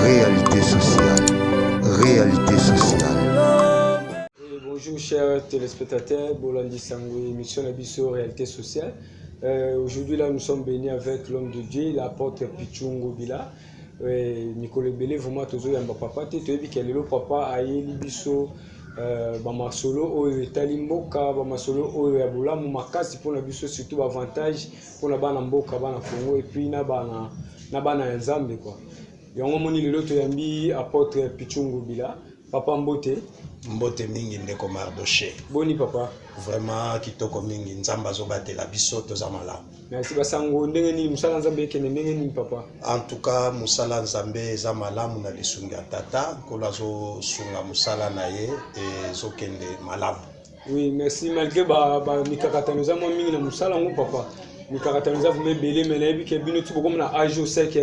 Réalité sociale. Réalité sociale. Eh, bonjour chers téléspectateurs, Bolandi Sango, émission la Bisso Réalité sociale. Euh, Aujourd'hui là nous sommes bénis avec l'homme de Dieu, l'apôtre Pichungo Bila. Euh, mikolo ebele vraiment tozoyamba papa te toyebi ke lelo papa ayeli biso euh, bamasolo oyo etali mboka bamasolo oyo ya bolamu makasi mpona biso surtout baavantage pona bana mboka bana Congo et puis na bana na bana ya Nzambe quoi yango moni lelo toyambi apotre Pichungu Bila papa mbote mbote mingi ndeko Mardoche boni papa vraiment kitoko mingi Nzambe azobatela biso toza malamu merci basango ndenge nini mosala Nzambe ekende ndenge nini papa en tout cas mosala Nzambe eza malamu na lisungi ya tata nkolo azosunga mosala na ye ezokende malamu Oui, merci. Malgré ba, ba mikakatano eza mwa mingi na mosala yango papa. Mikakatano eza vraiment ebele mais nayebi ke bino ti bokoma na age au sec.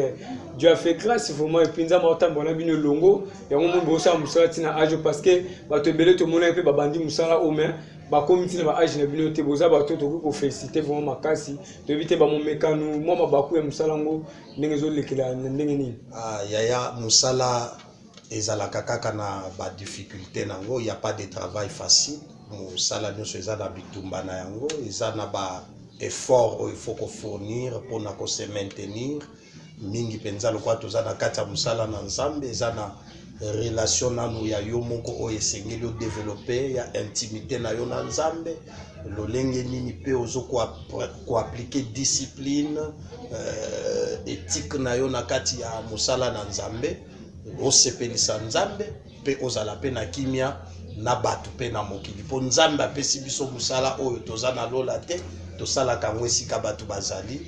Dieu a fait grâce vraiment et puis nzambe akotambola na bino elongo. Yango moni bosala mosala ti na age parce que bato ebele tomonaki mpe babandi mosala oyo mais bakomi ntina ba age na bino te boza bato tokoki kofélicite vraiment makasi toyebi te bamomekano mwa mabaku ya mosala yango ndenge ezolekela na ndenge nini ah, yaya mosala ezalaka kaka na ba difficulte na yango ya pas de travail facile mosala nyonso eza na bitumba na yango eza na ba effort oyo il faut ko fournir mpona ko se maintenir mingi mpenza lokola toza na kati ya mosala na nzambe eza na relation nanu ya yo moko oyo esengeli o developpe ya intimité na yo na nzambe lolenge nini mpe ozo ko appliquer discipline eh, ethique na yo na kati ya mosala na Nzambe, osepelisa Nzambe mpe ozala mpe na kimia na bato mpe na mokili, mpo Nzambe apesi biso mosala oyo toza na lola te, tosalaka yango esika bato bazali,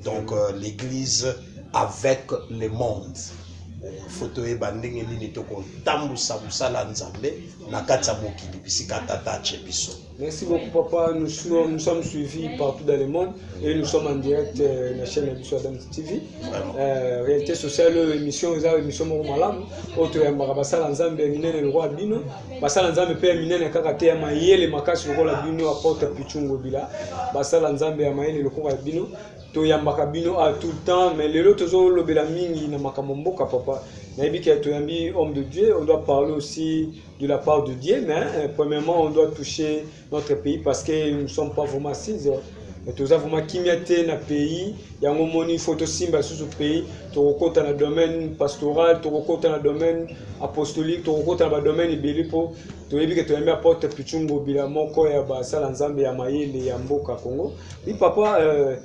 donc euh, l'église avec le monde fo toyeba ndenge nini tokotambusa mosala ya nzambe na kati ya mokili bisika tata atie biso Merci beaucoup papa, nous, nous sommes suivis partout dans le monde et nous sommes en direct euh, la chaîne Abisso Adam TV. Euh, réalité sociale, euh, émission, eza émission moko malamu oyo toyambaka basala nzambe ya minene lokola bino basala nzambe mpe ya minene kaka te ya mayele makasi lokola bino aporte pichungo bila basala nzambe ya mayele lokola bino toyambaka bino a tout le temps mais lelo tozolobela mingi na makambo mboka papa nayebi ke toyambi homme de dieu on doit parler aussi de la part de Dieu, mais euh, premièrement, on doit toucher notre pays parce que nous ne sommes pas vraiment assises. Euh, toza vraiment kimia te na pays yango moni faut tosimba susu pays tokokota na domaine pastoral tokokota na domaine apostolique tokokota na badomaine ebele mpo toyebi ke toyambi apotre pichungo bila moko ya basala nzambe ya mayele ya mboka congo mi papa euh,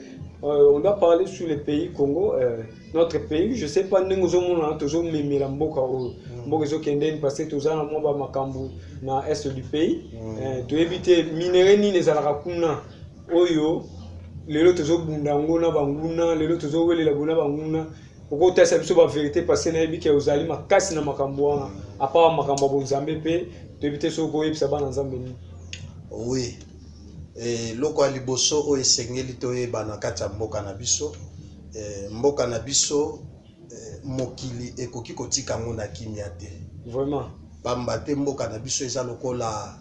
euh, on doit parler sur le pays congo euh, notre pays je sais pas ndenge ozomona tozomemela mboka oyo mm. mboka ezokendeni parce que toza na mwa bamakambo na est du pays mm. eh, toyebi te minere nini ezalaka kuna oyo lelo tozobunda yango na banguna lelo tozowelela bo na banguna okotalisa biso baverité parce que nayebi ke ozali makasi na makambo wana apart makambo ya bonzambe mpe toyebi te soki okoyebisa bana nzambe nini oui eloko eh, ya liboso oyo esengeli toyeba na kati ya mboka na biso Eh mboka na biso eh, mokili ekoki kotika yango na kimia te vraiment, pamba te mboka na biso eza lokola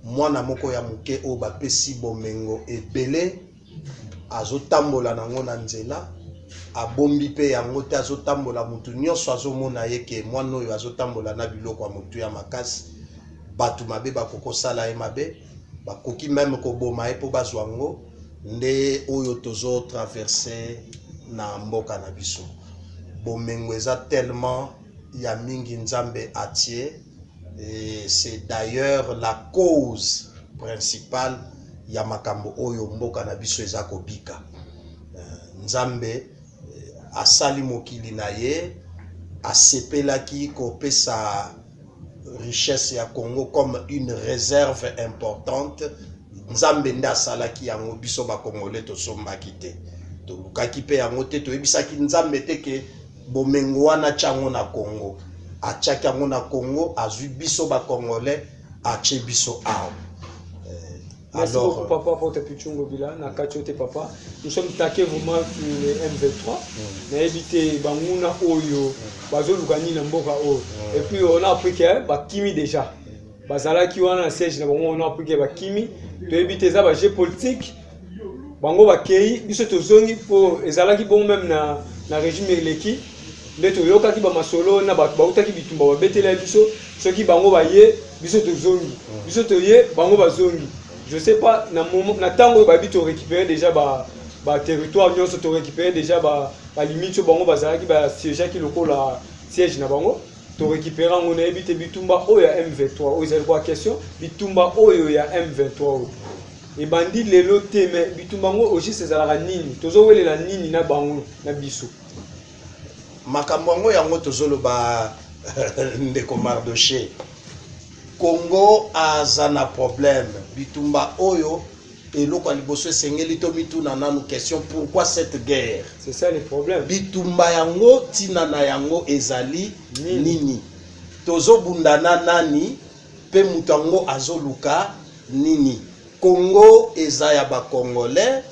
mwana moko ya moke oyo bapesi bomengo ebele, azotambola nango na nzela abombi mpe yango te, azotambola motu nyonso azomona ye ke mwana oyo azotambola na biloko ya motu ya makasi, bato mabe bakokosala ye mabe. ba koki meme ko boma ye po ba zwa ngo nde oyo tozo traverse na mboka na biso bomengo eza tellement ya mingi nzambe atie et c'est d'ailleurs la cause principale ya makambo oyo mboka na biso eza kobika euh, nzambe euh, asali mokili na ye asepelaki kopesa richesse ya Congo comme une reserve importante nzambe nde asalaki yango biso ba congolais tosombaki te tolukaki mpe yango te toyebisaki nzambe te ke bomengo wana atya yango na Congo atyaki yango na Congo azwi biso ba congolais atye biso awa Merci Alors, beaucoup, euh, papa, pour tes pitchons gobila. Na kacho te, papa. Nous sommes taqués vraiment sur le M23. Mm. Na évité Bangouna Oyo, mm. Bazo Lugani Namboka Oyo. Mm. Et puis, on a appris que Bakimi déjà. Bazala qui wana siège na bango, on a appris que Bakimi. Tu évité ça, jeu politique. Bango Bakei, biso tozongi pour ezalaki bon même na na régime eleki. nde toyokaki bamasolo na bato bautaki bitumba babetelaki biso soki bango baye biso tozongi hmm. biso toye bango bazongi je sais pas na ntango oyo bayebi torécupere déjà ba baterritoire nyonso torécupere déjà balimite oyo bango bazalaki basiégeaki lokola siège na bango torécupere yango nayebi te bitumba oyo ya m23 oyo ezali kwa question bitumba oyo ya m23 oyo ebandi lelo te me bitumba yango ogiste ezalaka nini tozowelela nini na bango na biso Makambo yango yango tozoloba ndeko Mardoche. Congo aza na problème. Bitumba oyo eloko ya liboso esengeli tomituna nanu question pourquoi cette guerre? C'est ça le problème. Bitumba yango tina na yango ezali nini? nini? Tozobunda na nani pe moto yango azoluka nini? Congo eza ya ba Congolais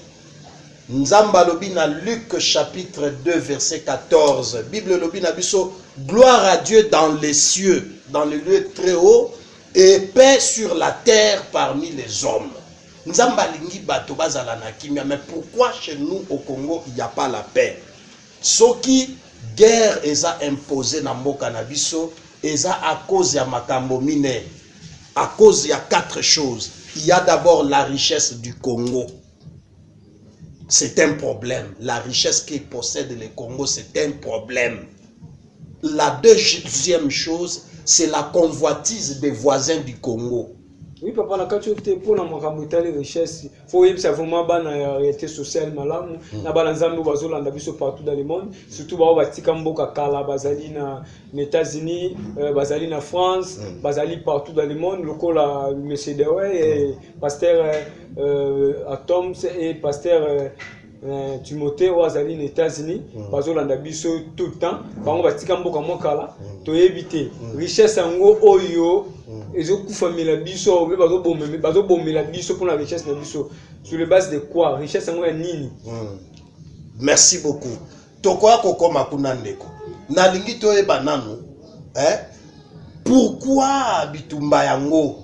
Nzambe alobi na Luc chapitre 2 verset 14. Bible elobi na biso gloire à Dieu dans les cieux, dans le lieu très haut et paix sur la terre parmi les hommes. Nzambe alingi bato bazala na kimia, mais pourquoi chez nous au Congo il n'y a pas la paix? Soki guerre eza imposée na mboka na biso eza à cause ya makambo mine, à cause ya quatre choses. Il y a d'abord la richesse du Congo. C'est un problème. La richesse qu'il possède le Congo, c'est un problème. La deuxième chose, c'est la convoitise des voisins du Congo. Oui, papa, na kati te pour na makambo etali richesse, faut yebisa vraiment bana ya réalité sociale malamu, hmm. na bana nzambe bazo landa biso partout dans le monde, surtout ba batika mboka kala bazali na États-Unis, euh, bazali na France, hmm. bazali partout dans le monde lokola monsieur Dewey et hmm. Pasteur euh, Atoms et Pasteur euh, euh, Timothée oyo azali na États-Unis mm. bazolanda biso tout le temps bango batika mboka mwa kala mm. toyebi te mm. richesse yango oyo mm. ezokufamela biso mpe bazobomela biso mpona richesse na biso sur le base de quoi richesse yango ya nini mm. merci beaucoup tokoya kokoma kuna ndeko nalingi toyeba nanu eh? pourquoi bitumba yango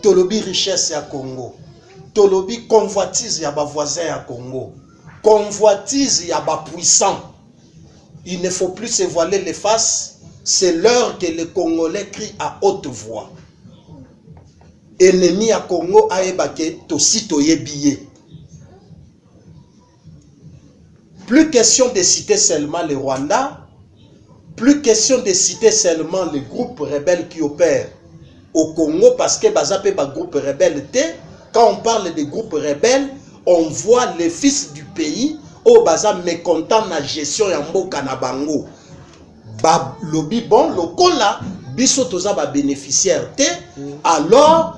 tolobi richesse ya congo tolobi convoitise ya bavoisin ya congo convoitise ya bapuissant il ne faut plus se voiler les faces c'est l'heure que le congolais crie à haute voix ennemi ya congo ayeba ke tosi toyebi ye Plus question de citer seulement le Rwanda, plus question de citer seulement les groupes rebelles qui opèrent au Congo parce que baza pe ba groupes rebelles te. Quand on parle des groupes rebelles, on voit les fils du pays au baza mécontent na gestion ya mboka na bango. Ba lobi bon lokola biso toza ba bénéficiaires te, alors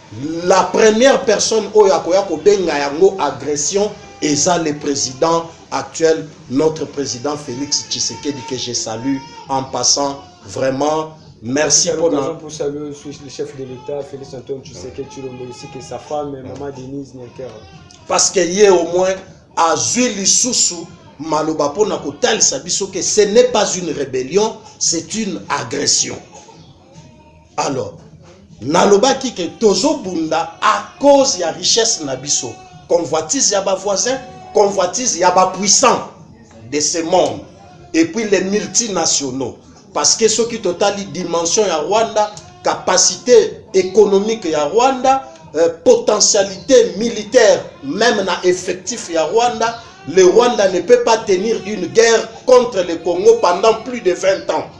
La première personne oyo akoya kobenga yango agression eza le president actuel notre president Felix Tshisekedi que je salue en passant vraiment Merci à l'occasion pour saluer aussi le chef de l'État, Félix Antoine Tshisekedi Chilombo, ici que sa femme, maman Denise Nyakera. Parce que ye au moins a zui lisusu maloba pona kotalisa biso que ce n'est pas une rébellion, c'est une agression. alors nalobaki ke tozobunda à cause ya richesse na biso convoitise ya ba voisin convoitise ya ba puissant de ce monde et puis les multinationaux parce que soki totali dimension ya rwanda capacité économique ya rwanda euh, potentialité militaire même na effectif ya rwanda le Rwanda ne peut pas tenir une guerre contre le Congo pendant plus de 20 ans.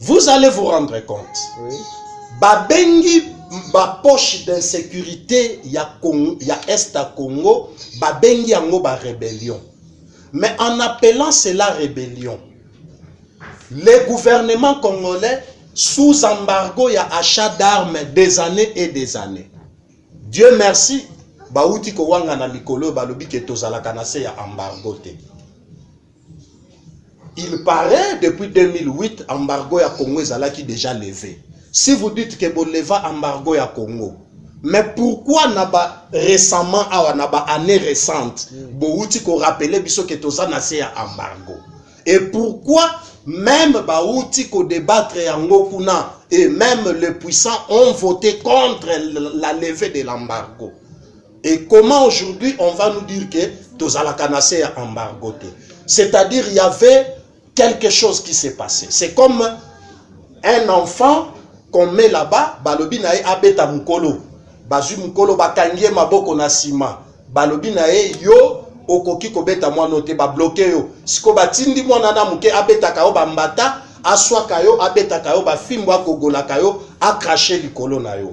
Vous allez vous rendre compte. Oui. Babengi ba poche d'insécurité ya Congo, ya Est à Congo, babengi yango ba rébellion. Mais en appelant cela rébellion, le gouvernement congolais sous embargo ya achat d'armes des années et des années. Dieu merci, bauti kowanga na mikolo balobi ke tozalaka na se ya embargo te. Il paraît depuis 2008 embargo ya Congo ezalaki déjà levé. Si vous dites que boleva embargo ya Congo, mais pourquoi na ba récemment awa na ba année récente mm. bowuti ko rappeler biso que toza na se ya embargo et pourquoi même bawuti ko débattre yango kuna et même les puissants ont voté contre la levée de l'embargo Et comment aujourd'hui on va nous dire que tozalaka na se ya embargo te? C'est-à-dire il y avait quelque chose qui s'est passé. C'est comme un enfant qu'on met là-bas, balobi na ye abeta mukolo. Bazui mukolo bakangi ye maboko na sima. Balobi na ye yo okoki kobeta mwana te ba bloquer yo. Siko batindi mwana na muke abetaka yo bambata, aswaka yo, abetaka yo bafimbo, akogolaka yo, akrache likolo na yo.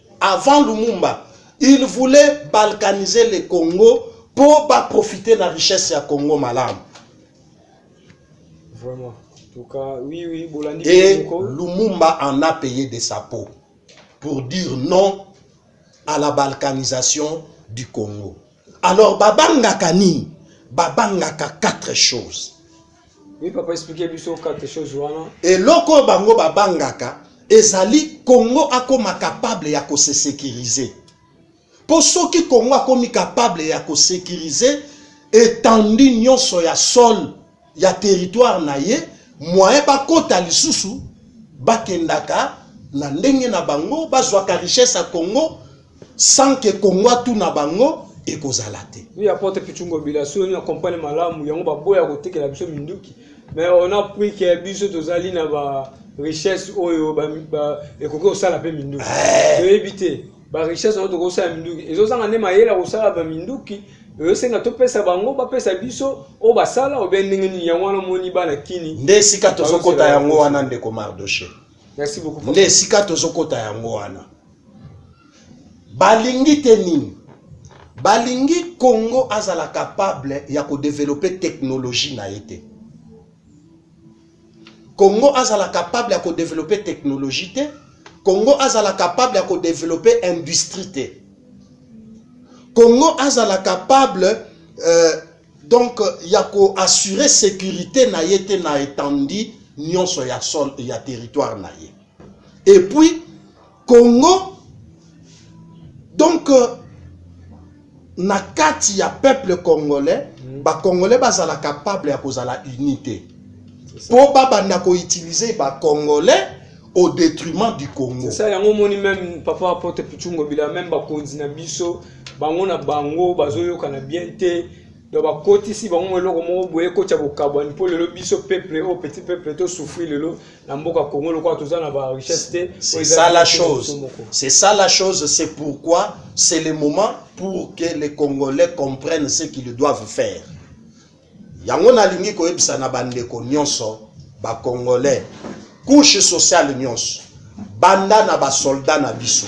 Avant Lumumba, il voulait balkaniser le Congo po ba profiter na richesse ya Congo malamu. Vraiment. Tuka, oui, oui, Bolandi Et Lumumba en a payé de sa peau pour dire non à la balkanisation du Congo. Alors babangaka nini? Babangaka quatre choses. Oui, papa expliquer biso quatre choses wana. Eloko bango babangaka ezali Congo akoma capable ya ko se sécuriser. Po soki Congo akomi capable ya ko sécuriser étendue nyonso ya sol ya territoire na ye moyen bakota lisusu bakendaka na ndenge na bango bazwaka richesse ya Congo sans que Congo atuna bango ekozala te. Oui, apotre Pichungo Bila, soki olingi akompane malamu yango baboya kotekela biso minduki mais on a pris que biso tozali na ba richesse oyo ekoki kosala mpe minduki eh. toyebi te ba richesse oyo tokosala minduki ezozanga nde mayele ya kosala ba minduki ezosenga topesa bango bapesa biso oyo basala obe ndenge nini yango wana omoni bana kini nde esika tozokota yango wana ndeko mardoche merci beaucoup nde esika tozokota yango wana balingi te nini balingi congo azala capable ya kodevelope teknologie na ye te Congo azala capable ya ko developper technologie te Congo azala capable ya ko developper industrie te Congo azala capable euh, donc ya ko assurer sécurité na ye te na étendue nyonso ya sol ya territoire na ye et puis Congo donc euh, na kati ya peuple congolais mm. ba congolais bazala capable ya kozala uni te mpo babanda koutilize ba congolais au détriment du congo ça yango omoni même papa apote pichungo bila même bakonzi na biso bango na bango bazoyokana bien te Donc bakotisi bango mwa eloko moko boye ekotya bokabwani mpo lelo biso peuple oyo petit peuple to souffrir lelo na mboka Congo lokola toza na ba richesse te. C'est ça la chose. C'est ça la chose, c'est pourquoi c'est le moment pour que les Congolais comprennent ce qu'ils doivent faire. Yango nalingi koyebisa na bandeko nyonso ba Congolais couche sociale nyonso banda na ba soldats na biso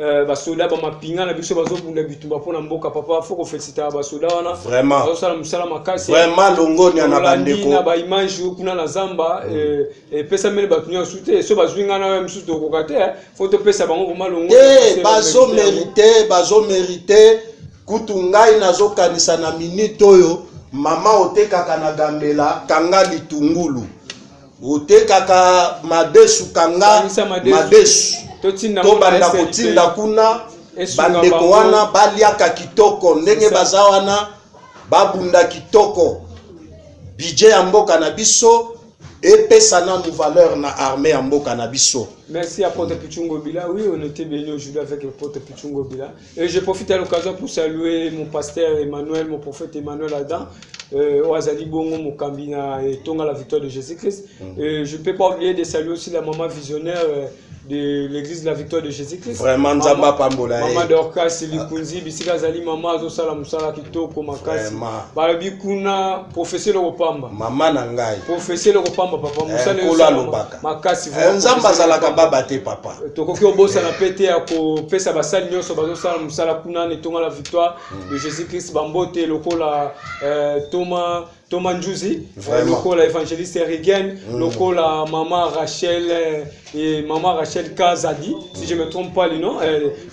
Euh, basoda bamapinga na biso bazobunda bitumba mpo na mboka papa fo kofelisitaka basoda wana vraiment bazosala mosala makasi vraiment longonia na bandeko na baimage kuna na zamba mm. euh, epesameli bato nyonso te so bazwi ngai nayo mosusu tokoka te eh. fo topesa bango vraimen longo te bazomerite bazomerite kutu ngai nazokanisa na minute oyo mama otekaka na gambela kanga litungulu otekaka madesu kanga madesu tobanda kotinda kuna bandeko wana baliaka kitoko ndenge baza wana babunda kitoko bidje ya mboka na biso epesa nanu valeur na armée ya mboka na biso merci ya pote pichungobila oui on était bien aujourd'hui avec pote pichungobila Et je profite à l'occasion pour saluer mon pasteur Emmanuel, mon prophète Emmanuel Adam, euh, au Azali Bongo, mon Kambina et Tonga, la victoire de Jésus-Christ. Mm. Et je ne peux pas oublier de saluer aussi la maman visionnaire. Euh, de l'église de la victoire de Jésus-Christ. Vraiment, Nzamba Pambola. Maman eh. Dorcas, Silikunzi, Bisika Zali, Maman Azosala Musala Kitoko, Makasi. Balobi Kuna, professeur Lopamba. Maman Nangai. Professeur Lopamba, Papa eh, Musala. makasi eh, nzambe azalaka baba te papa eh, tokoki obosana mpe te ya kopesa basali nyonso bazosala mosala kuna na etonga la victoire hmm. de jésus christ bambote lokola eh, toma toma njuzi lokola évangéliste erigen hmm. lokola mama rachel et mama rachel kazadi si je me trompe pas le nom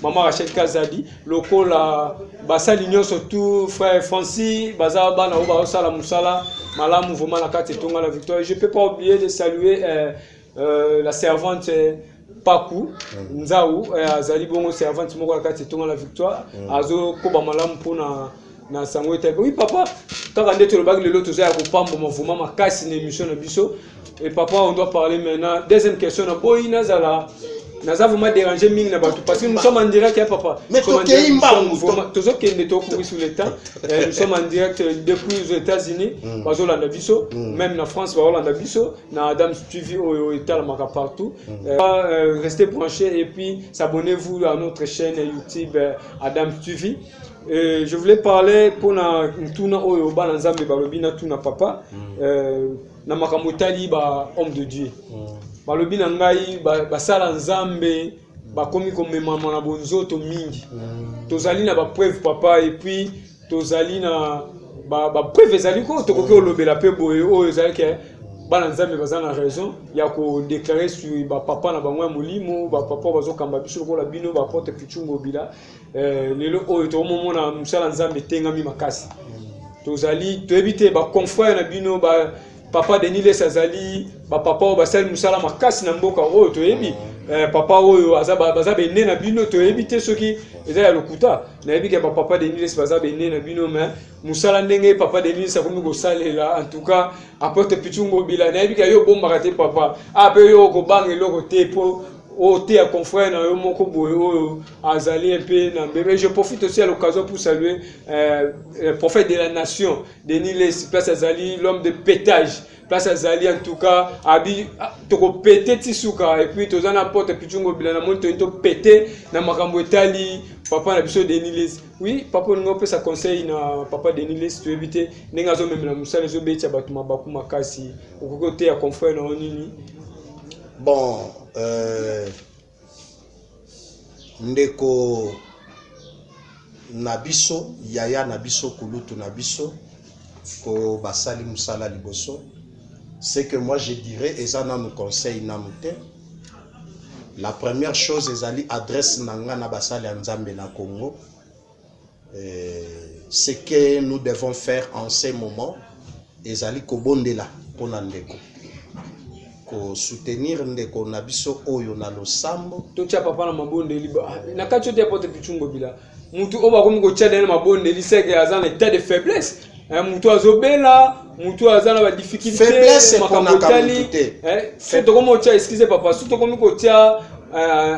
mama rachel kazadi lokola basali nyonso tu frère Francis baza bana oyo baosala mosala malamu vraiment na kati etonga la victoire je peux pas oublier de saluer euh, euh, la servante euh, paku mm. nzau euh, azali bongo servante moko na kati etonga la victoire mm. azokoba malamu mpona na sango etali oui papa kaka nde tolobaki lelo toza ya kopamboma vraimen makasi na émission na biso et papa on doit parler maintenant deuxième question na boyi nazala naza vraiment déranger mingi na bato parce que nous sommes en direct ya papa Mais Nous sommes en tokei direct, nous sommes mbangu, vraiment- to- tozokende tokubi sur le temps Eh, nous sommes en direct euh, depuis aux états unis Mm. bazolanda biso Mm. même na france baolanda biso na adam tv oyo etalamaka partout Euh, euh, restez branchés et puis s'abonnez vous à notre chaîne youtube euh, adam tv Euh, je voulais parler pour na mutuna oyo bana nzambe balobi na tuna papa mm. euh, na makambo etali ba homme de dieu mm. balobi na ngai basala ba nzambe bakomi komemama na bonzoto mingi mm. tozali na bapreuve papa epuis tozali na bapreuve ba ezali ko tokoki kolobela mpe boye oyo ezali ke bana nzambe baza na raison ya kodeklare sur bapapa na bango ya molimo bapapa bazokamba biso lokola bino baporte pichungobila Eh, lelo oyo tokomomona mosala nzambe etengami makasi tozali toyebi te baconfrere na bino ba papa denis les azali bapapa oyo basali mosala makasi na mboka oyo toyebi eh, papa oyo baza bene na bino toyebi te soki eza ya lokuta nayebi ke bapapa denis les baza bene na bino mais mosala ndenge papa denis akomi kosalela en tout cas apote pichungobila nayebi ke yo obombaka te papa ape ah, yo okobanga eloko te po oteya confrère na yo moko boye oyo azali un peu na mbebe je profite aussi à l'occasion pour saluer euh, le prophète de la nation denis lesi place azali l'homme de pétage place azali en tout cas abi ah, tokopete ti suka et puis toza na pote pichungo bila na moni toni topete na makambo etali papa na biso denis lesi oui papa olingi opesa conseil na papa denis lesi toyebi te ndenge azomemela mosala ezobetisa bato mabaku makasi okoki oteya confrère na yo nini Bon euh, ndeko na biso yaya na biso kulutu na biso ko basali musala liboso c'est que moi je dirais eza nanu conseil nanu te la première chose ezali adresse na nga na basali ya nzambe na congo ce que nous devons faire en ce moment ezali kobondela mpo na ndeko kosoutenir ndeko na biso oyo na losambo totya papa na mabondeli na kati ote pote pichumbo bila motu oyo bakomi kotya dene mabondeli seke aza na etat de faiblesse eh, motu azobela motu aza na badifficulté makambo etali eh, soki tokomi kotya excuse papa soki tokomi kotya eh,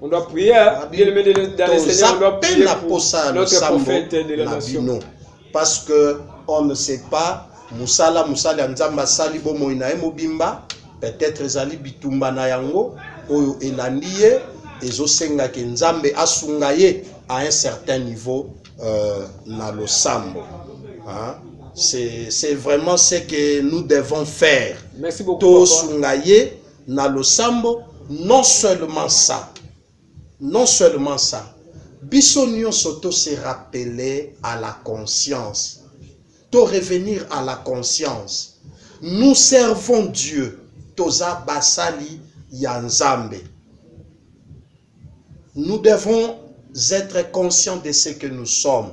On doit prier, hein? bien aimé dans le Seigneur, on doit prier pour notre prophète de la nation. Parce que on ne sait pas, musala musala ya nzambe asali bomoi na ye mobimba peut-être ezali bitumba na yango oyo elandi ye ezosenga ke nzambe asunga ye à un certain niveau euh, na losambo hein? c'est vraiment ce que nous devons faire tosunga ye na losambo non seulement ça non seulement ça biso nionso to se rappeler à la conscience to revenir à la conscience nous servons Dieu toza basali ya Nzambe nous devons être conscients de ce que nous sommes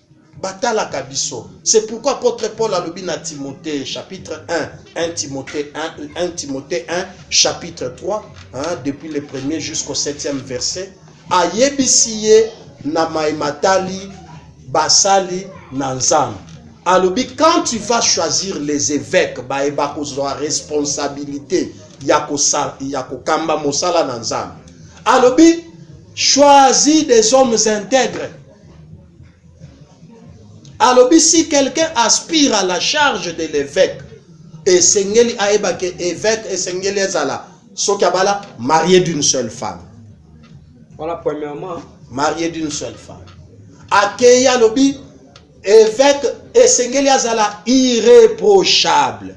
batalaka biso c'est pourquoi apôtre paul alobi na timothée chapitre 1 1 timothée 1, 1 timothée 1 chapitre 3 hein, depuis le premier jusqu'au septième verset ayebisi ye na mai matali basali na nzambe alobi quand tu vas choisir les évêques baye bakozwa responsabilité ya kokamba mosala na nzambe alobi choisis des hommes intègres alobi si quelqu'un aspire à la charge de l'évêque esengeli ayeba ke évêque esengeli ezala soki abala marié d'une seule femme voilà premièrement marié d'une seule femme akeyi alobi évêque esengeli azala irréprochable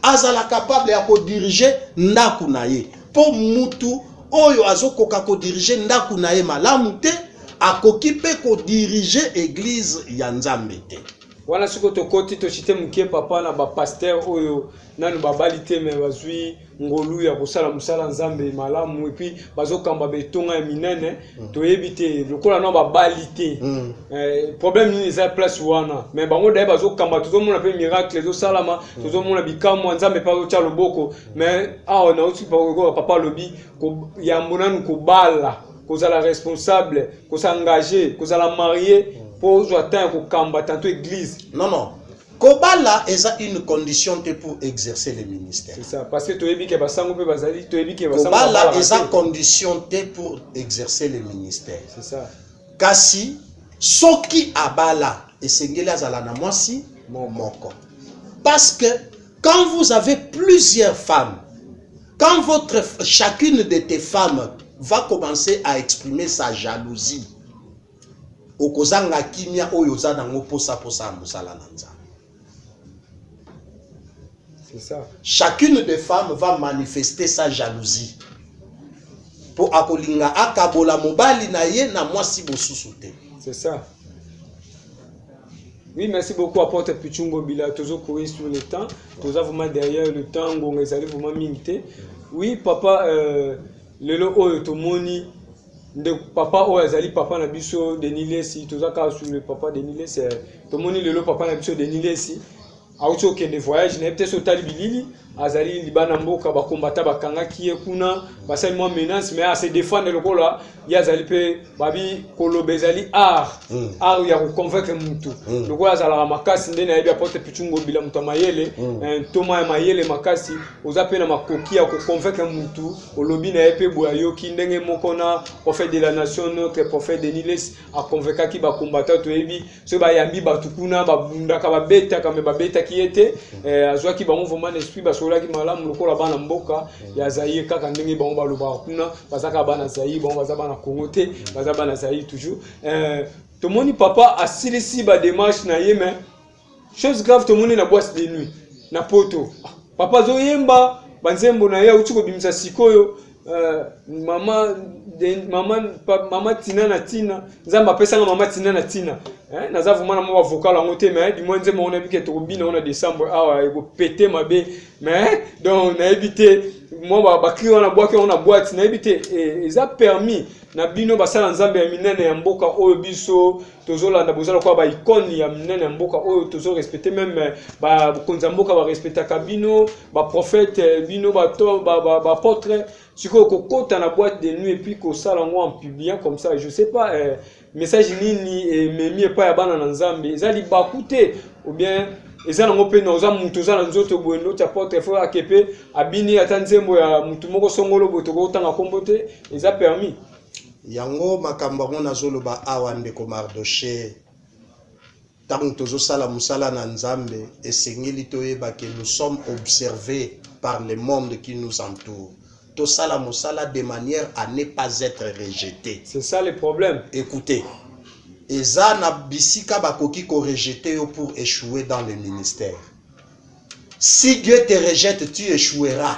azala capable ya kodirige ndako na ye mpo mutu oyo azokoka kodirige ndako na ye malamu te akoki mpe kodirige eglize ya nzambe te wana siko tokoti tosite moke papa na bapaster oyo nanu babali te me bazwi ngolu ya kosala mosala nzambe malamu epuis bazokamba betonga ya minene Mm. toyebi te lokola na babali te mm. eh, problème nini eza place wana mais bango daye bazokamba tozomona mpe miracle ezosalama mm. tozomona bikamwa nzambe mpe azotya loboko mais awa nauti okoka papa alobi yambo nanu kobala kozala responsable kosengager kozala marie mpo ozwa temps ya kokamba tanto église non non Kobala eza une condition te pour exercer le ministère. C'est ça, parce que toyebi ke basango pe bazali, toyebi ke basango Kobala eza condition te pour exercer le ministère. C'est ça. Kasi soki abala esengeli azala na mwasi moko. Parce que quand vous avez plusieurs femmes, quand votre chacune de tes femmes va commencer à exprimer sa jalousie, Okozanga kimia oyo oza nango posa posa ya mosala na Nzambe. C'est ça. Chacune des femmes va manifester sa jalousie. Po akolinga akabola mobali na ye na mwasi bosusu te. C'est ça. Oui, merci beaucoup apôtre Pichungo Bila. Tozo courir sur le temps. Tozo vraiment derrière le temps. Ngonga ezali vraiment mingi te. Oui, papa, euh, lelo oyo tomoni ndeko papa oyo azali papa na biso Denis Lessi toza kaka sur le papa Denis Lessi eh, tomoni lelo papa na biso Denis Lessi auti okende voyage na ye te so otali bilili azali libanda mboka bakombata bakangaki ye kuna basali mwa menace mais ase défendre lokola ye azali mpe babi koloba ezali art mm. art ya koconvaincre motu mm. lokola azalaka makasi nde nayebi apotre pichungo bila moto ya mayele mm. eh, ntoma ya mayele makasi oza mpe na makoki ya koconvaincre motu Olobi na ye mpe boye ayoki. Ndenge moko na prophète de la nation, notre prophète Denis Lessi a convaincaki ba combattants, toyebi soki bayambi bato kuna babundaka babetaka mais babetaki ye te. Eh, azwaki bango vraiment na esprit, basololaki malamu lokola bana mboka ya Zaire, kaka ndenge bango balobaka kuna, baza kaka bana Zaire, bango baza bana Congo te, baza bana Zaire toujours. Eh, tomoni papa asilisi ba démarches na ye mais chose grave tomoni na boise de nuit na poto papa azoyemba banzembo na ye auti kobimisa sikoyo euh, mama de- mama pa- mama tina na tina nzambe apesanga mama tina na tina Eh, naza vraimen na mwa bavocal yango te mais du moins nzembo yango nayebi ke tokobina yango na décembre awa ekopete mabe mais donc nayebi te mwa ba- bakri wana bwaki yango na boite nayebi te eh, eza permis na bino basala nzambe ya minene ya mboka oyo biso tozolanda boza lokola ba icone ya minene ya mboka oyo tozo respecte meme eh, bakonzi ya mboka barespectaka bino baprofete eh, bino baapotre ba, ba sikoyo kokota na boîte de nuit epuis kosala yango en publiant comme ça je sais pas eh, message nini ememi eh, epai ya bana na nzambe eza libaku te ou bien eza nango mpe na oza moto oza na nzoto boye ndoti apotre fo ake mpe abini ata nzembo ya motu moko songolo boye tokoki kotanga nkombo te eza permis Yango makambo yango nazoloba awa ndeko Mardoche, tango tozosala mosala na Nzambe esengeli toyeba que nous sommes observes par le monde qui nous entoure. Tosala mosala de manière à ne pas etre rejete. C'est ça le problème. Ecoutez, eza na bisika bakoki ko rejete yo pour echouer dans le ministère. Si Dieu te rejette, tu echoueras.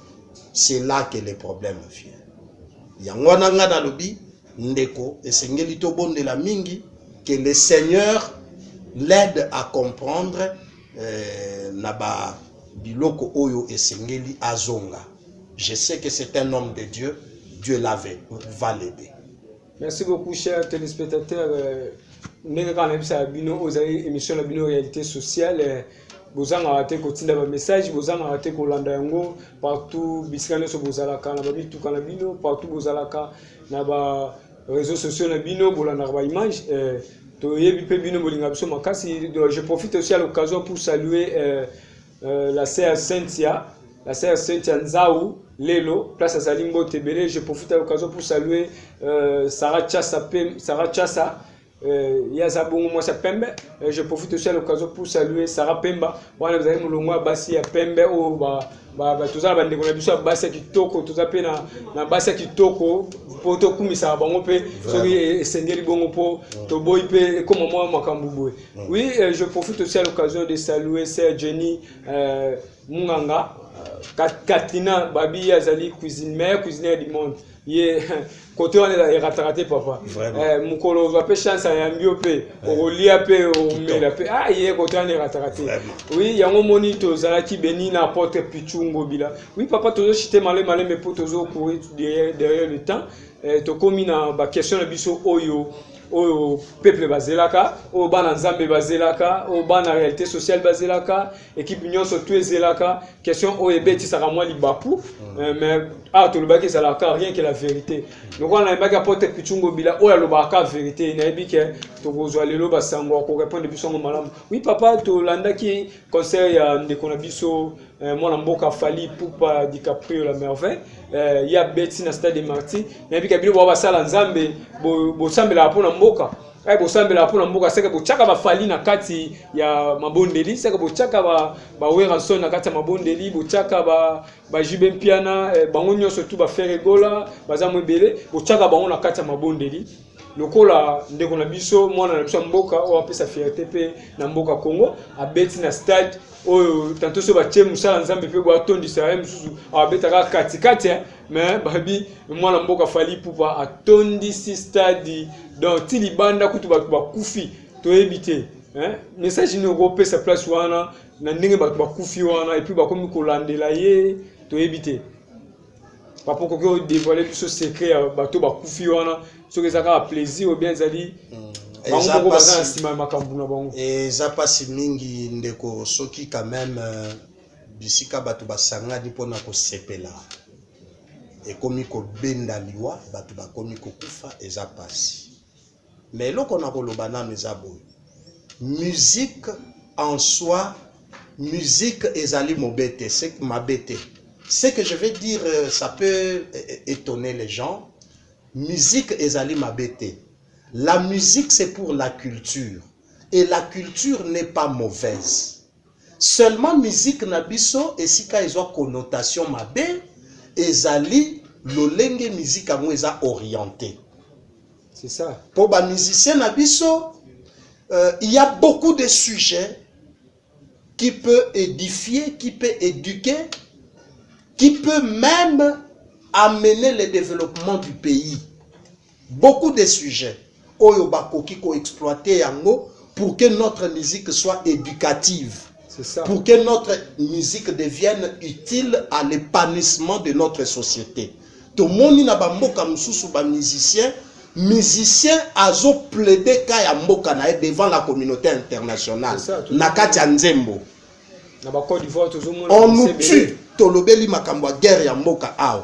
c'est là que le problème vient yango wana ngai nalobi ndeko esengeli tobondela mingi que le seigneur l'aide à comprendre euh, na ba biloko oyo esengeli azonga je sais que c'est un homme de dieu dieu lave va l'aider Merci beaucoup, chers téléspectateurs. Euh, ndenge kaka nayebisaka bino oyo ezali émission na bino réalité sociale euh, bozangaka te kotinda bamessage bozangaka te kolanda yango partout bisika nyonso bozalaka na bamituka na bino partout bozalaka na ba réseaux sociaux na bino bolandaka baimage euh, toyebi mpe bino bolinga biso makasi je profite aussi à l'occasion pour saluer euh, Euh, la sœur Cynthia, la sœur Cynthia Nzau, Lelo, place à Salim Botebele, je profite à l'occasion pour saluer euh, Sarah Chassa, Pem, Sarah Chassa, euh, Yaza Bongo Mwasa Pembe. Euh, je profite aussi à l'occasion pour saluer Sarah Pemba. Wana vous avez mulongwa basi ya Pembe o ba ba ba tozala ba ndeko na biso ya basi ya kitoko, toza pe na na basi ya kitoko po to kumisa bango pe soki esengeli bongo po toboyi pe ekoma mwa makambo boye. Mm. Oui, euh, je profite aussi à l'occasion de saluer Sœur Jenny euh, Munganga, euh, Katrina Babi Azali, cuisine, meilleure cuisinière du monde. ye kote wana erataka te papa eh, mokolo ozwa mpe chance ayambi yo mpe eh. okolia mpe omela mpe a ah, ye kote wana erataka te wi yango moni tozalaki beni na apotre pichu ngobila wi papa tozochite male malembe mpo tozokourir derrière le temps eh, tokomi na baquestion na biso oyo oyo peuple bazelaka oyo bana nzambe bazelaka oyo bana réalité sociale bazelaka équipe nyonso tu ezelaka question oyo ebetisaka mwa libapu mm. euh, mais awa tolobaki ezalaka rien que la vérité lokola nayebaki apotre pichungo bila oyo alobaka ka vérité nayebi ke tokozwa lelo basango ya korepondre biso yango malamu oui papa tolandaki concert ya ndeko na biso Eh, mwana mboka fali pupa dicaprio la merveille eh, ya beti na stade de marti nayebi ka bino bao basala nzambe bosambelaka mpo na mboka eh, bosambelaka mpo na mboka seke botyaka bafali na kati ya mabondeli seke botyaka baweranson ba na kati ya mabondeli botyaka bajube ba mpiana eh, bango nyonso tu baferegola baza mo ebele botyaka bango na kati ya mabondeli lokola ndeko na biso mwana na biso ya mboka oyo apesa fierte mpe na mboka congo abeti na stade oyo tanto so batie mosala nzambe mpe bo atondisa ye mosusu abetaka katikati eh, me babi mwana mboka fali pupa atondisi stade donc ti libanda kutu bato bakufi toyebi te eh, message nini okopesa place wana na ndenge bato bakufi wana epuis bakomi kolandela ye toyebi te papa okoki o dévoiler biso secret ya bato bakufi wana soki eza kaka plaisir obien ezali hmm. bango moko baza na nsima ya makambo na bango eza mpasi mingi ndeko soki quand même euh, bisika bato basangani mpo na kosepela ekomi kobenda liwa bato bakomi kokufa eza mpasi mais eloko na koloba nanu eza boye musique en soi musique ezali mabe te mabe te ce que je vais dire euh, ça peut étonner les gens musique ezali mabe te la musique c'est pour la culture et la culture n'est pas mauvaise Seulement musique na biso esika ezwa connotation mabe ezali lolenge musique yango eza orientee. C'est ça. Po ba musiciens na biso euh, il y a beaucoup de sujets qui peut édifier, qui peut éduquer, qui peut même amener le développement du pays. Beaucoup des sujets oyo ba koki ko exploiter yango pour que notre musique soit educative. Pour que notre musique devienne utile à l'épanouissement de notre société. Tomoni na ba mboka mususu ba musiciens musicien azoplaide ka ya mboka na ye devant la communauté internationale na kati ya nzembo on nous tue tolobeli makambo ya guerre ya mboka awa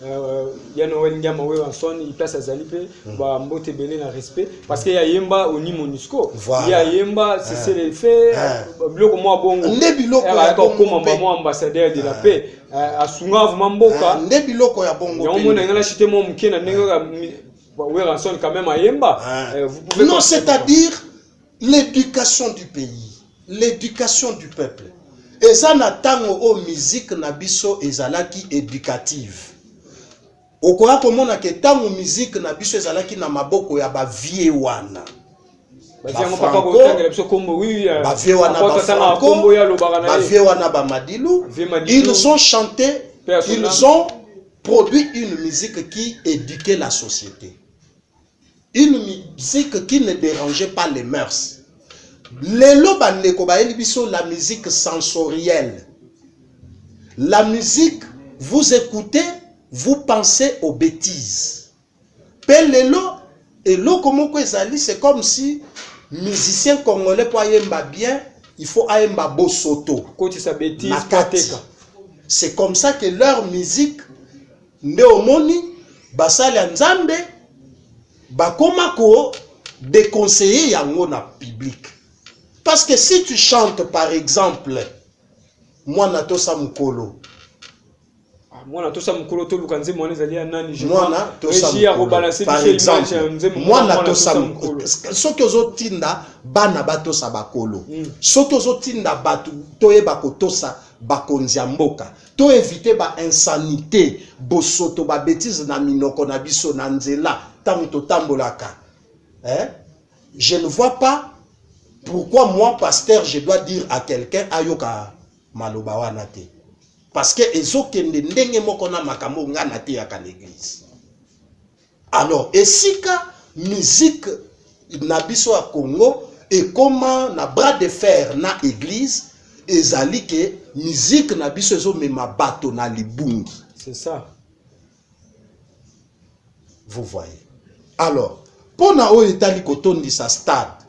Euh, ya noel ndiama weranson place azali mpe hmm. bambote ebele na respect parce que ye ayemba oni monusco ye ayemba sesele eh. fe eh. euh, biloko mwa bongo nde biloko eh, ya kokoma bango ambassadeur de la paix asunga vraimen mboka nde biloko ya bongo yango mona ngai nachite mwa moke na ndenge kaka weranson quand même ayemba non c'est à dire L'education du pays, l'education du peuple. Eza na tango o musique na biso ezalaki educative. Okoya komona ke tango musique na biso ezalaki na maboko ya ba vieux wana. Ba vieux wana ba Franco, ba vieux wana ba Madilu, ils ont chanté, ils ont produit une musique qui éduquait la société. Une musique qui ne derangeait pas les mœurs. Lelo bandeko bayeli biso la musique sensorielle. La musique vous écoutez, vous pensez aux bêtises. Pe lelo eloko moko ezali c'est comme si musicien congolais po ayemba bien il faut ayemba bosoto kotisa bêtise na kati c'est comme ça que leur musique Nde omoni basali ya Nzambe bakoma ko deconseiller yango na public. Parce que si tu chantes par exemple mwana tosa mukolo ah, mwana tosa mukolo toluka nzembo wana ezali ya nani je mwana tosa mukolo par exemple mwana tosa mukolo soki ozotinda bana batosa bakolo mm. soki ozotinda bato toyeba kotosa bakonzi ya mboka To eviter ba insanites, bosoto, ba betises na minoko na biso na nzela tango totambolaka eh? Je ne vois pas pourquoi moi pasteur je dois dire à quelqu'un ayoka maloba wana te parce que ezokende ndenge moko na makambo nga nateyaka na eglise. Alors esika musique na biso ya Congo ekoma na bras de fer na eglise ezali ke musique na biso ezomema bato na libungi. C'est ça. Vous voyez. Alors, mpo na oyo etali kotondisa stade,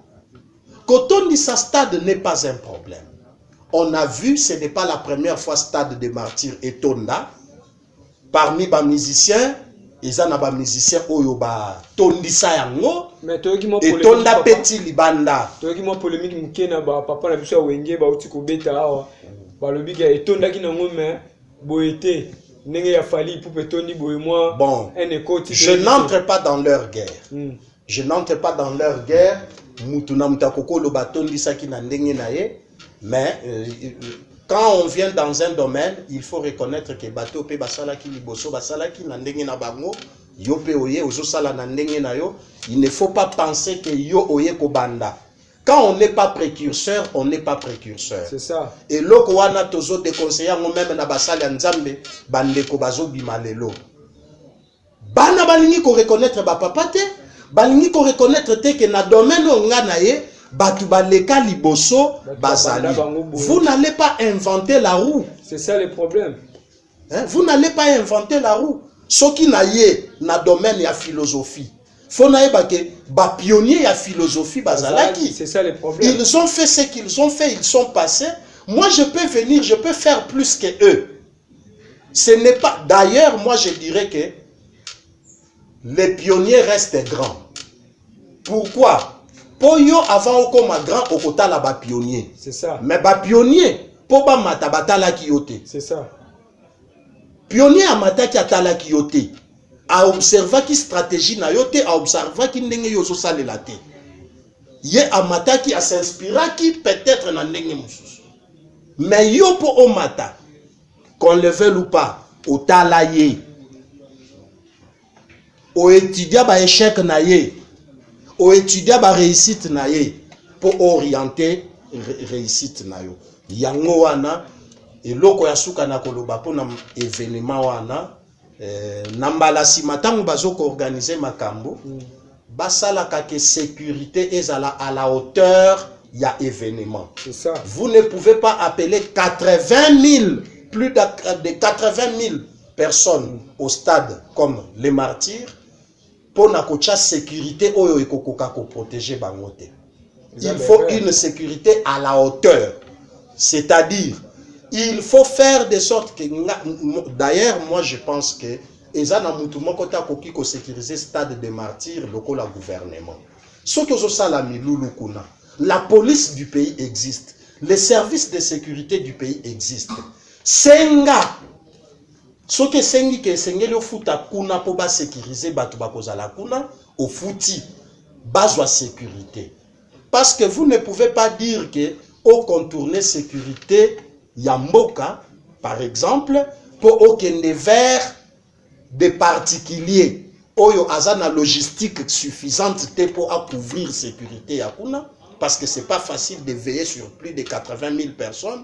kotondisa stade n'est pas un problème. On a vu, ce n'est pas la première fois stade de martyrs etonda. parmi ba musiciens eza na ba musiciens oyo batondisa yango mais toyoki mwa polemique, etonda papa. peti libanda toyoki mwa polemique moke na bapapa na biso ya wenge bauti kobeta awa balobi ke etondaki nango mais boye te ndenge ya fali ipupe etondi boye mwa bon un ekoti je toyebi te. n'entre pas dans leur guerre Mm. je n'entre pas dans leur guerre mutu na mutu akoki oloba atondisaki na ndenge na ye mais euh, quand on vient dans un domaine il faut reconnaître que bato mpe basalaki liboso basalaki na ndenge na bango yo mpe oye ozosala na ndenge na yo il ne faut pas penser que yo oye kobanda quand on n'est pas précurseur on n'est pas précurseur c'est ça eloko wana tozo déconseille yango meme na basali ya nzambe bandeko bazobima lelo Bana balingi ko reconnaitre ba papa te, balingi ko reconnaitre te que na domaine oyo nga na ye batu baleka liboso bazali. Vous n'allez pas inventer la roue. C'est ça le problème. Hein? Vous n'allez pas inventer la roue. Soki na ye na domaine ya philosophie faut nayeba ke bapionnier ya philosophie bazalaki ils ont fait ce qu'ils ont fait ils sont passés moi je peux venir je peux faire plus que eux Ce n'est pas. D'ailleurs, moi je dirais que les pionniers restent grands. Pourquoi Pour yo, avant au coma grand, au kota là bas pionnier. C'est ça. Mais bas pionnier, pour bas mata batala qui yote. C'est ça. Pionnier à mata qui atala qui yote. A observa qui stratégie na yote, a observa qui n'engue yo so sale la te. Ye a mata qui a s'inspira qui peut-être na n'engue moussous. Mais yo po omata, qu'on le veuille ou pas, otala ye. O étudia ba échec na ye. O étudia ba réussite na ye po orienter réussite na yo. Yango wana eloko ya suka na koloba pona événement wana Eh, na mbala nsima ntango bazo koorganize makambo mm. basalaka ke sécurité ezala à la hauteur ya événement vous ne pouvez pas appeler 80 000 plus de 80 000 personnes mm. au stade comme les martyrs mpo na kotya securite oyo ekokoka koprotege bango te il faut une securite à la hauteur c'est-à-dire il faut faire de sorte que d'ailleurs moi je pense que eza na mutu moko te akoki kosécuriser stade de martyr lokola gouvernement soki ozosala milulu kuna la police du pays existe les services de sécurité du pays existent senga Soki esengi ke esengeli ofuta kuna po ba securiser batu bakozala kuna, ofuti bazwa securite. Parce que vous ne pouvez pas dire que o contourner securite ya mboka par exemple po okende vers des particuliers oyo aza na logistique suffisante te po a couvrir securite ya kuna parce que c'est pas facile de veiller sur plus de 80 000 personnes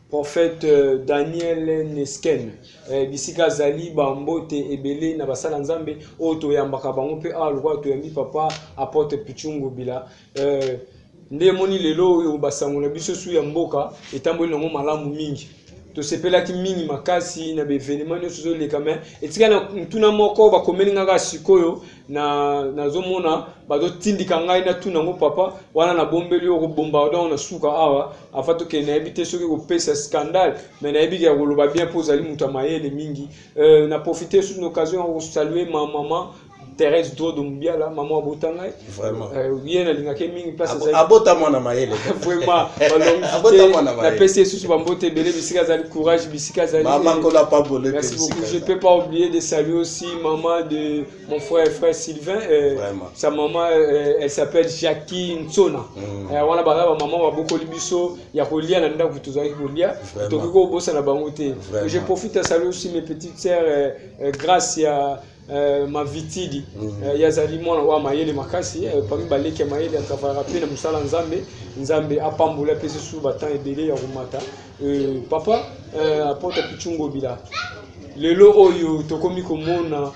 Prophète Daniel Nesken, eh, bisika azali ba mbote ebele na basala Nzambe oyo toyambaka bango mpe awa lokola toyambi papa apotre Pichungu Bila eh, nde emoni lelo oyo basango na biso su ya mboka etamboli nango malamu mingi tosepelaki mingi makasi na baevenema nyonso ezoleka me etika na ntuna moko bakomeli ngaka sikoyo na nazomona bazotindika ngai natuna yango papa wana nabombeli yo okobomba donc na suka awa afa tokende nayebi te soki kopesa scandale mais nayebi ya koloba bien mpo ozali moto ya mayele mingi euh, na profite sur l'occasion ya kosalue ma maman Thérèse Drodo Mubiala, maman abota ngai. Vraiment. Euh, ye nalingaki mingi place azali. Abota mwana mayele. Vraiment. Abota mwana mayele. Napesi esusu bambote ebele bisika azali courage bisika azali. Maman kola pa bolete. Merci beaucoup. Je peux pas oublier de saluer Si maman de mon frère frère Sylvain euh, Vraiment. sa maman euh, elle s'appelle Jackie Nsona Mm. euh, wana baza bamama babokoli biso ya kolia na ndako tozalaki kolia Vraiment. tokoki kobosana bango te Vraiment. je profite ya saluer aussi mes petites sœurs euh, euh, grâce ya euh, mavitidi Mm. euh, ya azali mwana wa mayele makasi euh, pami baleki ya mayele atravaillaka mpe na mosala ya nzambe nzambe apambola mpe susu batemp ebele ya komata Euh, papa euh, apota pichungobila lelo oyo tokomi komona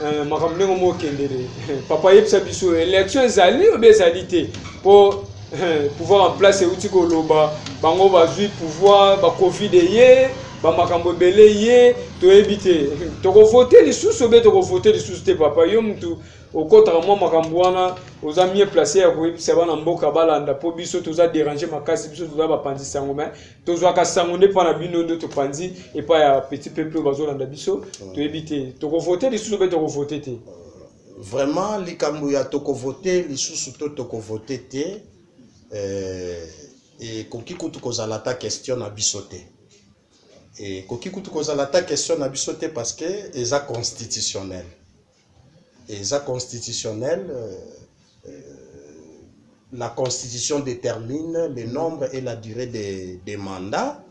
euh, makambo ndenge moko kendele papa yebisa biso élection ezali obe ezali te mpo euh, pouvoir en place euti koloba bango bazwi pouvoir bacovid eye bamakambo ebele ye toyebi te tokovote lisusu obe tokovote lisusu te papa yo mutu Okotaka mwa makambo wana oza mieux place ya koyebisa bana mboka balanda mpo biso toza derange makasi biso toza bapanzi sango me tozwaka sango nde mpo na bino nde topanzi epai ya petit peuple oyo bazolanda biso mm. toyebi te tokovote lisusu mpe tokovote te vraiment likambo ya tokovote lisusu to tokovote te eh, ekoki kutu kozala ata question na biso te ekoki kutu kozala ata question na biso te parce que eza constitutionnel Eza constitutionnel la constitution determine le nombre et la durée des de mandats.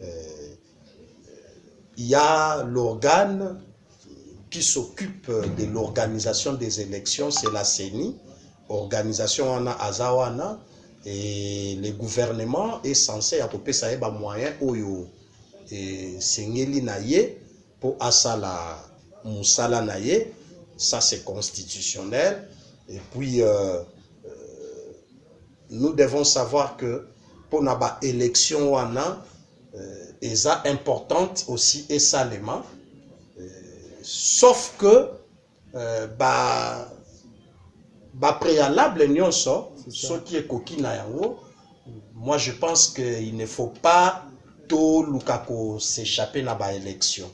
Euh, il y a l'organe qui s'occupe de l'organisation des élections, c'est la CENI. Organisation wana azawana et le gouvernement est censé à kopesa ye ba moyens oyo et sengeli na ye po asala musala na ye ça c'est constitutionnel et puis nous devons savoir que pona ba elections wana eza importante aussi esalema sauf que Ba ba prealables nionso soki ekoki na yango moi je pense que il ne faut pas toluka ko s'echapper na ba elections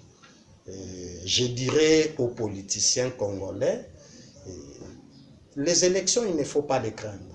je dirais aux politiciens congolais les elections il ne faut pas les craindre.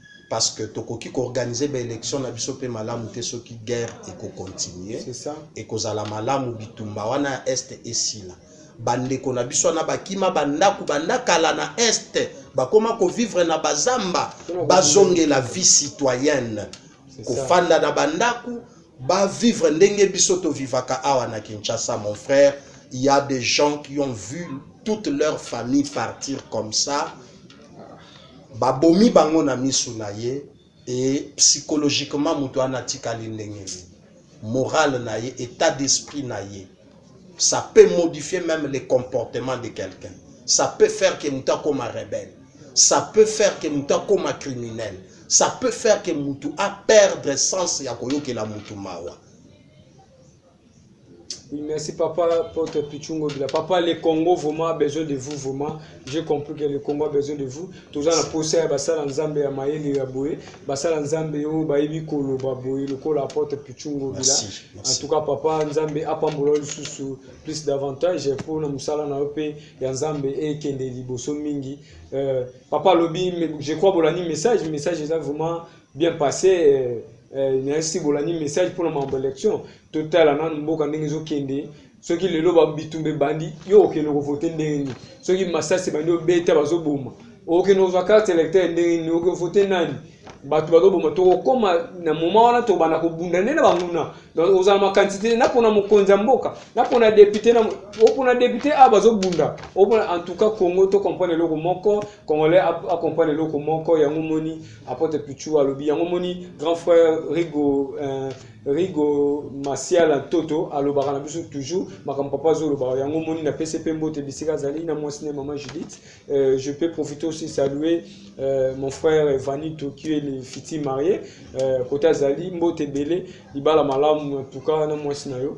parce que tokoki ko organiser ba elections na biso pe malamu te soki guerre eko continuer ekozala malamu bitumba wana ya est esila bandeko na biso wana bakima bandako banda kala na est bakoma kovivre na bazamba bazongela vie citoyenne kofanda na bandako bavivre ndenge biso tovivaka awa na kinshasa mon frère il y a des gens qui ont vu toute leur famille partir comme ça Babomi bango na misu na ye et psychologiquement mutu wana atikali ndenge nini? Morale na ye, etat d'esprit na ye ça peut modifier meme le comportement de quelqu'un. Ça peut faire que mutu akoma rebelle. Ça peut faire que mutu akoma criminel. Ça peut faire que mutu a perdre sens ya koyokela mutu mawa. Oui, merci papa pote pichungo bila papa le congo vraiment besoin de vous vraiment j'ai compris que le congo a besoin de vous toza na posa ya basala nzambe ya mayele ya boye basala nzambe oyo bayebi koloba boye lokola apote pichungo bila Merci, merci. en tout cas papa nzambe apambola yo lisusu plus davantage mpo na mosala na yo mpe ya nzambe ekende liboso mingi Euh, papa alobi me- je crois bolandi message message eza vraiment Bien passe merci bolandi message pona mambo election totala nanu mboka ndenge ezokende soki lelo bitumba ebandi yo okende kovote ndenge nini soki masasi ebandi obeta bazoboma okende kozwa carte électeur ndenge nini okovote nani bato bazoboma tokokoma na moma wana tobanda kobunda nde na banguna ozala makanisi te napona mokonzi ya mboka napona depute opona depute a bazobunda opona en tout cas congo tocomprendre eloko moko congolais acomprendre eloko moko yango moni Apotre Pichu alobi yango moni grand frère Rigo euh, Rigo Masiala Toto alobaka na biso toujours makambo papa azoloba yango moni na pese pe mbote bisika azali na mwasi na maman Judith euh, je peux profiter aussi saluer euh, mon frère Vanito qui est le futur marié euh, kota azali mbote bele libala malamu en tout cas na mwasi na yo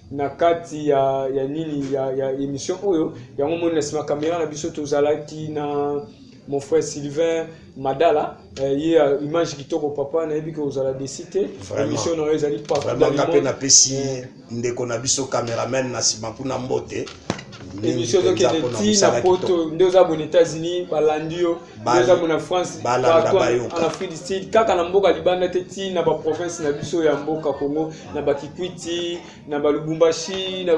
na kati ya, ya nini ya, ya emission oyo yango moni na sima kamera na biso tozalaki na mon frère Sylvain Madala eh, ye ya image kitoko papa nayebi ke ozala desi te Vraiment. emission na yo ezali partout dans vraiment le nga mpe monde. napesi Eh, ndeko na biso cameraman na nsima kuna mbote mingi emission mpenza ezokende mpo na ti na mosala poto kitoko nde oza boni états-unis balandi yo ezamo na france en afrique du sud kaka na mboka libanda te ti na baprovince na biso ya mboka congo na bakikwiti na balubumbashi na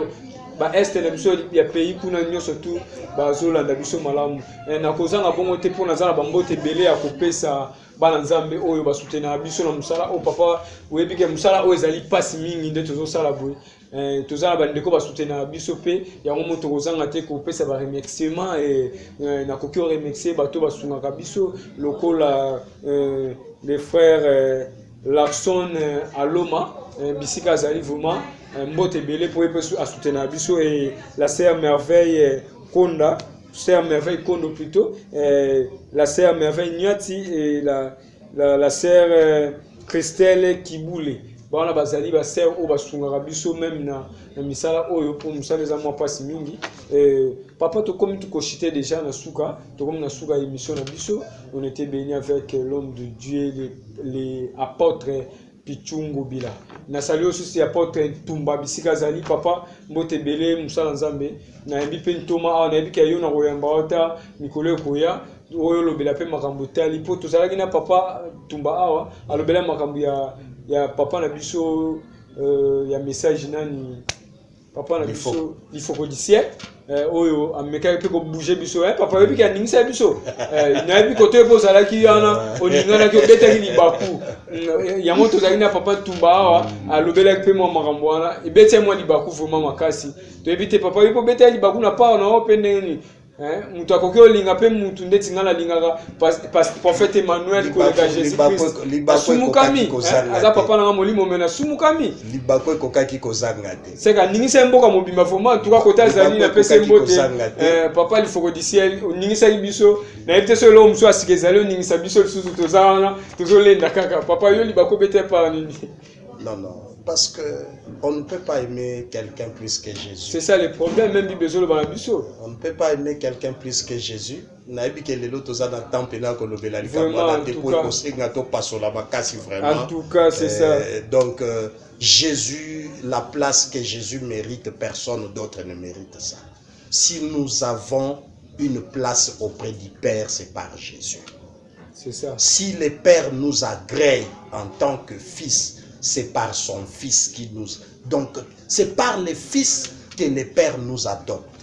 baeste na biso ya pays kuna nyonso tu bazolanda biso malamu eh, na kozanga bongo te mpo naza na bambote ebele ya kopesa bana nzambe oyo basutenaka biso na mosala oyo papa oyebi ke mosala oyo ezali mpasi mingi nde tozosala boye Eh, toza na bandeko basutenaka biso mpe yango moto kozanga te kopesa baremerciement eh, eh, nakoki oremercie bato basungaka biso lokola eh, le frère eh, larson eh, aloma eh, bisika azali vraiment eh, mbote ebele mpo ye mpe asutenaka biso eh, la sœur merveille eh, konda sœur merveille kondo plutôt eh, la sœur merveille nyati eh, la la, la sœur euh, Christelle Kibule bawana bazali ba sœur oyo basungaka biso meme na, na misala oyo mpo mosala eza mwa mpasi mingi euh, papa tokomi tukoshite deja na suka tokomi na suka ya émission na biso on était béni avec l'homme de Dieu les, les apôtres Pichu Ngobila. Nasali yo susu ya Apotre Ntumba bisika azali papa mbote ebele mosala Nzambe. Nayambi mpe ntoma awa nayebi ke yo nakoyamba wata mikolo ekoya oyo olobela mpe makambo etali mpo tozalaki na papa Ntumba awa alobela makambo ya, ya papa na biso euh, ya message nani papa na biso lifoko du ciel eh, oyo amekaki mpe kobouge biso eh, papa oyebi aningisa biso eh, nayebi koto epo ozalaki wana oninganaki obetaki libaku mm, yango tozalaki na papa tumba awa mm. alobelaki mpe mwa makambo wana ebeti ya mwa libaku vraimen makasi toyebi te papa oyebi obetaki libaku na pawa na yo mpe ndenge nini Hein? Mutu akoki olinga pe mutu ndeti nga nalingaka prophète Emmanuel koleka Jésus Christ. Asumukami. Hein? Aza papa nanga molimo mena asumukami. Libako ekokaki kozanga te. Seka ningisa mboka mobimba vraiment en tout cas kota azali na pese mbote. Eh, papa lifoko du ciel oningisaki biso na yebite so eloko mosusu asika ezali oningisa biso lisusu toza wana tozolenda kaka papa yo libako bete par nini Non, non, parce que on ne peut pas aimer quelqu'un plus que Jésus. C'est ça le problème, même Bible Zolo Banabiso. On ne peut pas aimer quelqu'un plus que Jésus. nayebi ke lelo toza na temps mpena ya kolobela likambo wana te mpo ekosenga topasola makasi vraiment euh, donc euh, jésus la place que jésus mérite personne d'autre ne mérite ça si nous avons une place auprès du père c'est par jésus Si le père nous agree en tant que fils, c'est par son fils qui nous... Donc, c'est par le fils que le père nous adopte.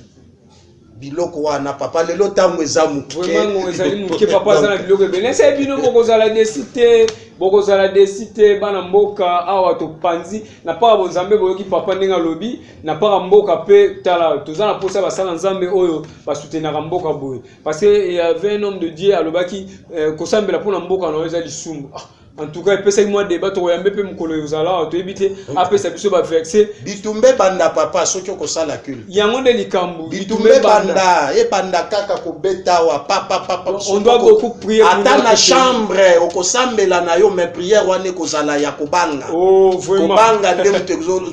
biloko wana papa lelo ntango eza mokemango ezali moke papa aza na biloko ebele nasa bino bokozala desi te bokozala desi te bana mboka awa topanzi na mpaka bonzambe boyoki papa ndenge alobi na mpaka mboka mpe tala toza na mposa basala nzambe oyo basutenaka mboka boye parce que il y avait un homme de Dieu alobaki euh, kosambela pona mboka na eza lisumu ah, en tout cas epesaki mwa débat tokoyambe mpe mokolo ozala toyebi te apesa biso ba verse bitumbe banda papa soki okosala kul yango nde likambo bitumbe banda ebanda kaka kobeta wa papa papa on doit beaucoup prier ata na chambre okosambela na yo mais prière wana ekozala ya kobanga oh, vraiment. kobanga nde moto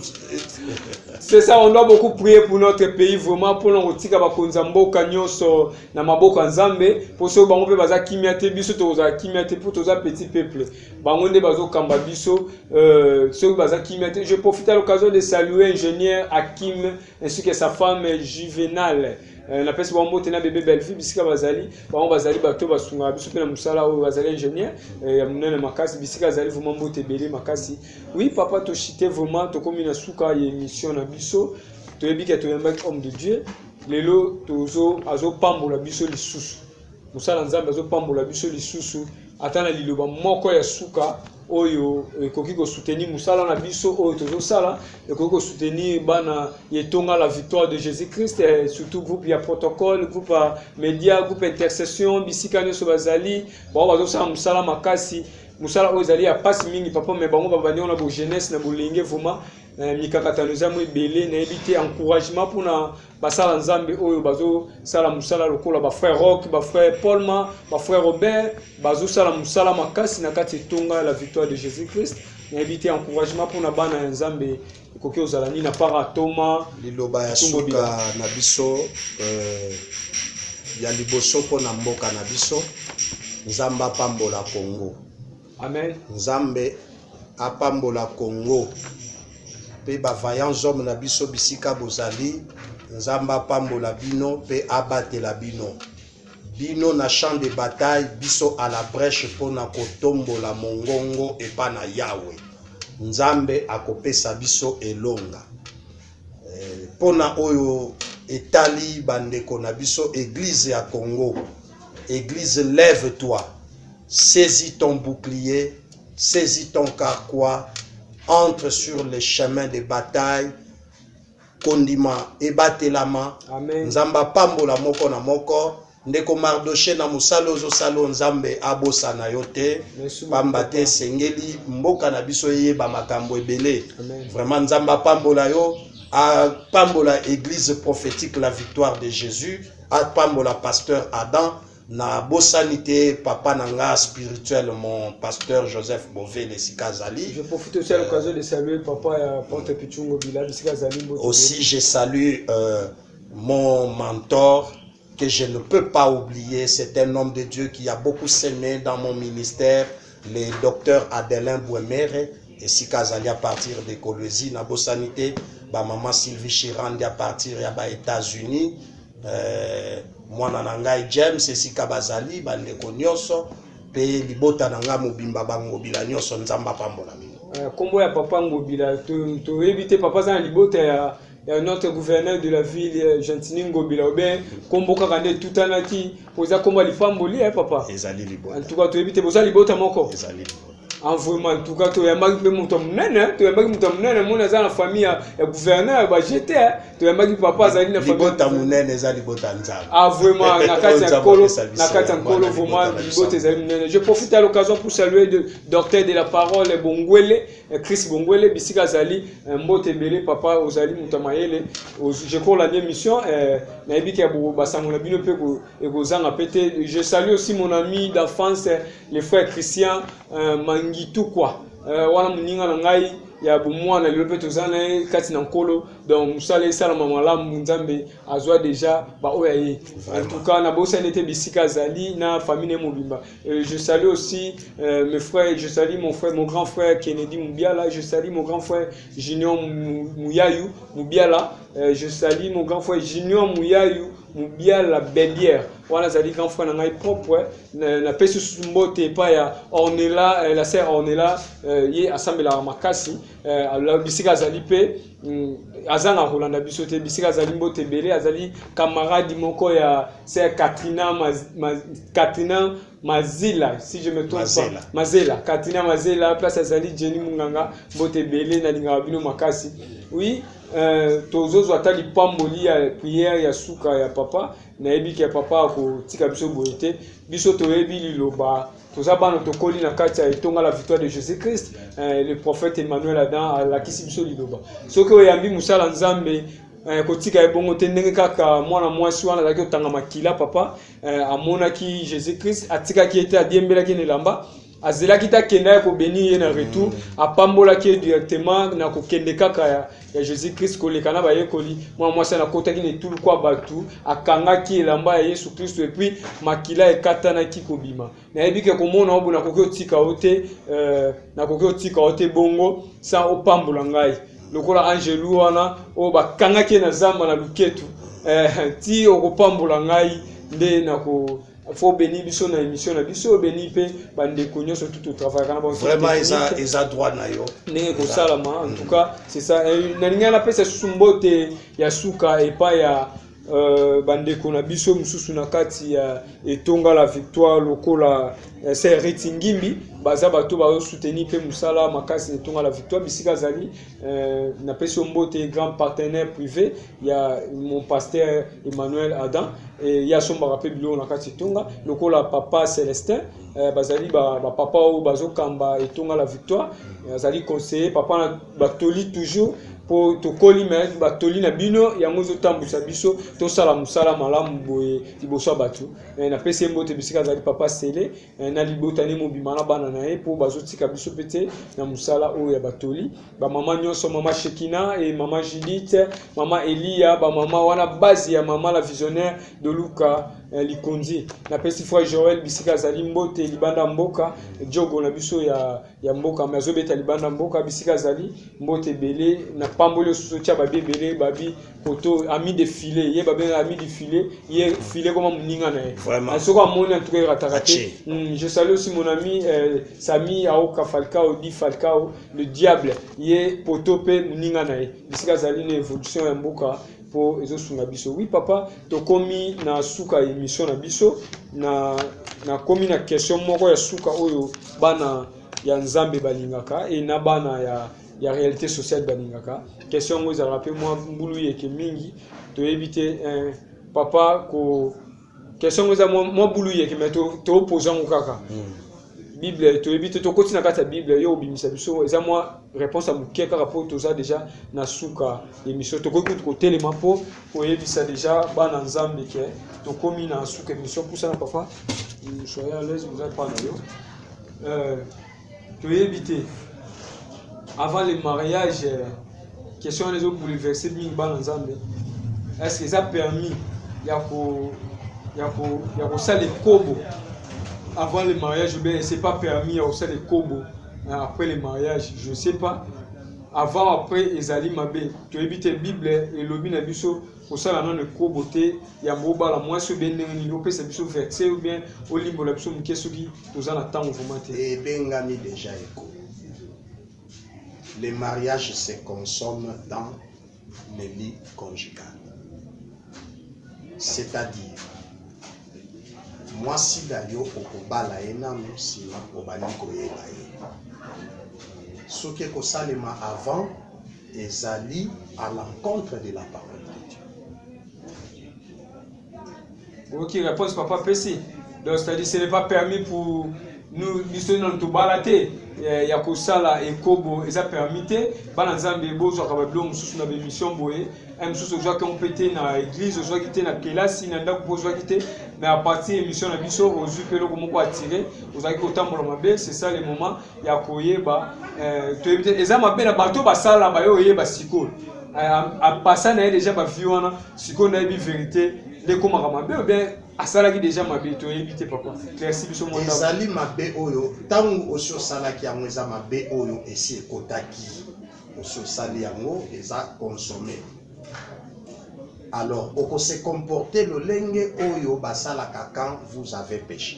C'est ça, on doit beaucoup prier pour notre pays vraiment pour nous tika ba konza mboka nyoso na maboko ya Nzambe pour so bango pe baza kimia te biso to za kimia te pour toza petit peuple bango nde bazo kamba biso euh ceux baza kimia te je profite à l'occasion de saluer ingénieur Hakim ainsi que sa femme Juvenal euh, na pesi bango mbote na bebe Bellevue bisika bazali bango bazali bato basungaka biso mpe na mosala oyo bazali ingénieur euh, ya monene makasi bisika azali vraiment mbote ebele makasi Oui papa toshite vraiment tokomi na suka ya emission na biso toyebi ke toyambaki homme de dieu lelo tozo azopambola biso lisusu mosala nzambe azopambola biso lisusu ata na liloba moko ya suka oyo ekoki kosoutenir mosala na biso oyo tozosala ekoki kosoutenir bana ya etonga la victoire de jésus christ eh, surtout groupe ya protocole groupe ya média groupe intercession bisika nyonso bazali bango bazosala mosala makasi mosala oyo ezali ya mpasi mingi papa me bango babandi yango na bojeunesse na bolenge vraimen eh, mikakatano eza mo ebele nayebi te encouragement mpona basala nzambe oyo bazosala mosala lokola bafrère rock bafrère paulma bafrère robert bazosala mosala makasi na kati etonga la victoire de jésus christ nayebi te encouragement mpona bana ya nzambe Ekoki kozala nini na para atoma? Liloba ya suka na biso eh, ya liboso mpo na mboka na biso. Nzambe apambola Congo. Amen. Nzambe apambola Congo mpe ba vaillants hommes na biso bisika bozali. Nzambe apambola bino mpe abatela bino. Bino na champ de bataille, biso à la breche pona kotombola mongongo epa na Yawe. Nzambe akopesa biso elonga. Eh, pona oyo etali bandeko na biso eglise ya Congo, eglise lève-toi, saisis ton bouclier, saisis ton carquois, entre sur les chemins de bataille Kondima ebatelama Amen. Nzambe apambola moko na moko. Ndeko Mardoche na mosala ozosala oyo Nzambe abosana yo te, pamba te esengeli mboka na biso eyeba makambo ebele. Vraiment Nzambe apambola yo, apambola Eglise prophétique la victoire de Jésus, apambola pasteur Adam. Na bosani te papa na nga spirituel mon pasteur Joseph Bovele esika azali. Je profite aussi à euh, l'occasion de saluer papa ya Porte Pichungo Bila bisika azali mbote. Aussi je salue euh, mon mentor que je ne peux pas oublier, c'est un homme de Dieu qui a beaucoup semé dans mon ministère le docteur Adelin Bwemere esika azali à partir de Kolwezi na bosani te ba maman Sylvie Chirandi à partir ya ba États-Unis euh, mwana na ngai James esika bazali bandeko nyonso mpe libota na ngai mobimba bangobila nyonso Nzambe apambola bino. Nkombo euh, ya papa Ngobila toyebi to te papa aza na libota ya Euh, notre gouverneur de la ville euh, gentini ngobila obe nkombo kaka nde etutanaki mpo eza nkombo ya lipamboli ya eh, papa ezali libota antuka toyebi te boza libota moko ezali libota en vraiment antuka toyambaki mpe moto ya monene eh, toyambaki moto ya monene moni aza na famille ya gouverneur bajete eh. toyambaki papa azali na libota monene eza libota nzambe ah vraiment na kati ya nkolo na kati ya nkolo vraiment libota ezali monene je profite à l'occasion pour saluer de docteur de la parole bongwele Eh, Chris Bongwele bisika azali eh, mbote ebele papa ozali moto ya mayele je crois olandi émission eh, nayebi ke basango na bino mpe ekozanga mpe te je salue aussi mon ami d'enfance le frère Christian Mangitukwa wana moninga na ngai ya bomwana lelo mpe toza na ye kati na nkolo donc mosala esalama malamu nzambe azwa deja baoyo ya ye en tout cas nabosani ete bisika azali na famille na ye mobimba Euh, je salue aussi euh, mes frères, je salue mon frère, mon grand frère Kennedy Moubiala, je salue mon grand frère Junior Mouyayou Moubiala, euh, je salue mon grand frère Junior Mouyayou Moubiala Bélière. Voilà, ça dit grand frère, on a propre, na pesu mbote epai ya Ornella, la sœur Ornella, ye asambela makasi, bisika azali mpe Hmm, azanga kolanda biso te bisika azali mbote ebele azali camarade moko ya ser katrina maz, maz, katrina mazila si je me trompe mazela. pas mazela katrina mazela place azali jenny munganga mbote ebele nalingaka bino makasi oui euh, tozozwa ata lipamboli ya priere ya suka ya papa nayebi ke papa akotika biso boye te biso toyebi liloba toza bana tokoli na kati ya etonga la victoire de jésus christ eh, le prophète emmanuel adam alakisi biso liloba soki oyambi mosala nzambe eh, kotika ye bongo te ndenge kaka mwana mwasi wana azalaki kotanga makila papa eh, amonaki jésus christ atikaki ye te adiembelaki ye na elamba azelaki te akenda ye kobeni ye na retour mm. apambolaki ye directement na kokende kaka ya ya Jésus-Christ koleka na bayekoli, mwana mwasi wana akotaki na etuluku ya bato, akangaki elamba ya Yesu Kristo epuis makila ekatanaki kobima. Nayebi ke komona obo nakoki otika yo te, euh, nakoki otika yo te bongo sans opambola ngai lokola angelu wana oyo bakangaki ye na zamba na luketu eh, ti okopambola ngai nde nako faut obeni biso na émission na biso obeni mpe bandeko nyonso tout totravayaka na vraiment eza, eza droit na yo ndenge kosalama en tout cas c'est ça eh, nalingaki napesa susu mbote ya suka epai ya Euh, bandeko na biso mosusu na kati ya etonga la victoire lokola eh, sereti ngimbi baza bato bazosuteni mpe mosala makasi na etonga la victoire bisika azali Euh, napesi yo mbote grand partenaire privé ya mon pasteur emmanuel adam e, ye asombaka mpe biloko na kati etonga lokola papa celestin euh, bazali bapapa ba oyo bazokamba etonga la victoire azali conseiller papa na batoli toujours mpo tokoli me batoli na bino yango ezotambwisa biso tosala mosala malamu boye liboso ya bato napesi ye mbote bisika azali papa sele eh, na libota ne mobima na bana na ye mpo bazotika biso mpe te na mosala oyo ya batoli bamama nyonso mama shekina e mama judith mama eliya bamama wana base ya mama la visionnaire de luka eh, likonzi napesi frère joel bisika azali mbote libanda mboka jogo na biso ya, ya mboka me azobeta libanda mboka bisika azali mbote ebele na pamboli osusu otya babi ebele babi koto ami de filet ye babengaka ami du filet ye filet koma moninga na ye ah, soki amoni antuka erataka te hmm, je salue aussi mon ami euh, sami aoka falcao di falcao le diable ye poto mpe moninga na ye bisika azali na évolution ya mboka mpo ezosunga biso wi papa tokomi na suka ya émission na biso na nakomi na question moko ya suka oyo bana ya nzambe balingaka e na bana ya ya realite sociale balingaka question yango ezalaka mpe mwa mbulu yeke mingi toyebi te eh, papa ko question yango eza mwa bulu yeke me toopoza yango kaka hmm. bible toyebi te tokoti na kati ya bible yo obimisa biso eza mwa réponse ya moke kaka mpo toza deja na suka émission tokoki kutu kotelema mpo koyebisa deja bana nzambe ke tokomi na suka émission pusana papa soyez à l'aise oza epa na yo euh, toyebi te avant le mariage euh, question wana ezo bouleverse mingi bana nzambe est-ce que eza permis ya ko ya ko ya kosala ekobo avant le mariage ou bien c'est pas permis ya kosala ekobo euh, après le mariage je sais pas avant après ezali mabe toyebi te bible elobi na biso kosala nano ekobo te yambo obala mwasi oyo bien ndenge nini opesa biso verse ou bien olimbola biso moke soki toza na ntango vraiment te ebengami deja eko le mariage se consomme dans le lit conjugal c'est-à-dire mwasi na yo okobala ye nano nsima obandi koyeba ye soki ekosalema avant Ezali à l'encontre de la parole de Dieu. oyoki réponse papa apesi donc c'est-à-dire ce n'est pas permis pour nous biso nano tobala te eh, ya kosala ekobo eza permis te bana nzambe bozwaka babilo mosusu na bemission boye eh, mosusu ozwaki yango mpe te na église ozwaki te na kelasi na ndako mpe ozwaki te mais à partir ya émission na biso ozwi mpe eloko moko attire ozalaki kotambola mabe c'est ça le moment ya koyeba eh, toyebi te eza mabe na bato basala baye oyeba sikoyo eh, apasa na ye deja bavi wana sikoyo nayebi verite nde ekomaka mabe obien asalaki deja mabe toyebi te papa clairci biso mwa ezali mabe oyo ntango osi osalaki yango eza mabe oyo esi ekotaki osi osali yango eza consomme alors okose comporte lolenge oyo basalaka quand vous avez péché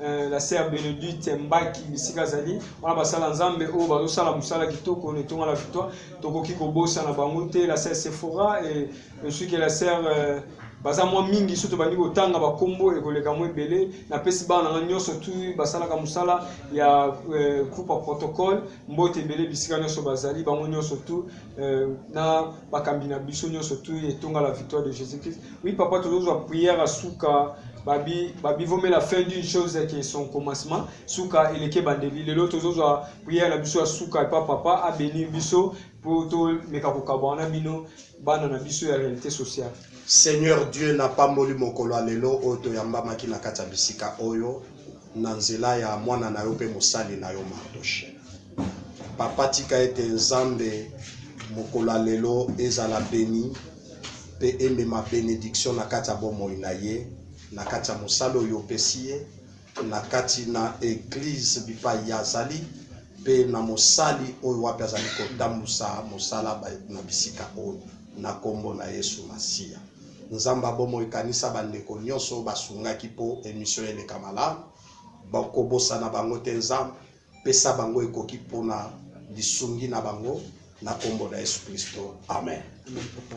Euh, la sœur Benedite Mbaki bisika azali wana basala nzambe oyo bazosala mosala kitoko na etonga la victoire tokoki kobosana bango te la sœur Sephora et je que la sœur euh, baza mwa mingi soki tobandi kotanga bakombo ekoleka mwa ebele napesi bana na ngai nyonso tu basalaka mosala ya euh, groupe ya protocole mbote ebele bisika nyonso bazali bango nyonso tu euh, na bakambi na biso nyonso tu etonga la victoire de jésus christ Oui papa tozozwa prière ya suka babi babivomela fin d'une chose que son commencement suka eleki ebandeli lelo tozozwa prière na biso ya suka epa papa abenir biso mpo tomeka kokabwana na bino bana na biso ya réalité sociale seigneur dieu napamboli mokolo ya lelo oyo toyambamaki na kati ya bisika oyo na nzela ya mwana na yo mpe mosali na yo mardoche papa tika ete nzambe mokolo ya lelo ezala beni mpe emema benediction na kati ya bomoi na ye, na kati ya mosala oyo opesi ye, na kati na eglise bipai ye azali, mpe na mosali oyo wapi azali kotambusa mosala na bisika oyo, na kombo na yesu masiya. Nzambe ya bomoi kanisa ba ndeko nionso oyo basungaki mpo emission eleka malamu, kobosana bango te Nzambe. Pesa bango ekoki pona lisungi na bango na kombo na Yesu Klisto, amen. Amen papa.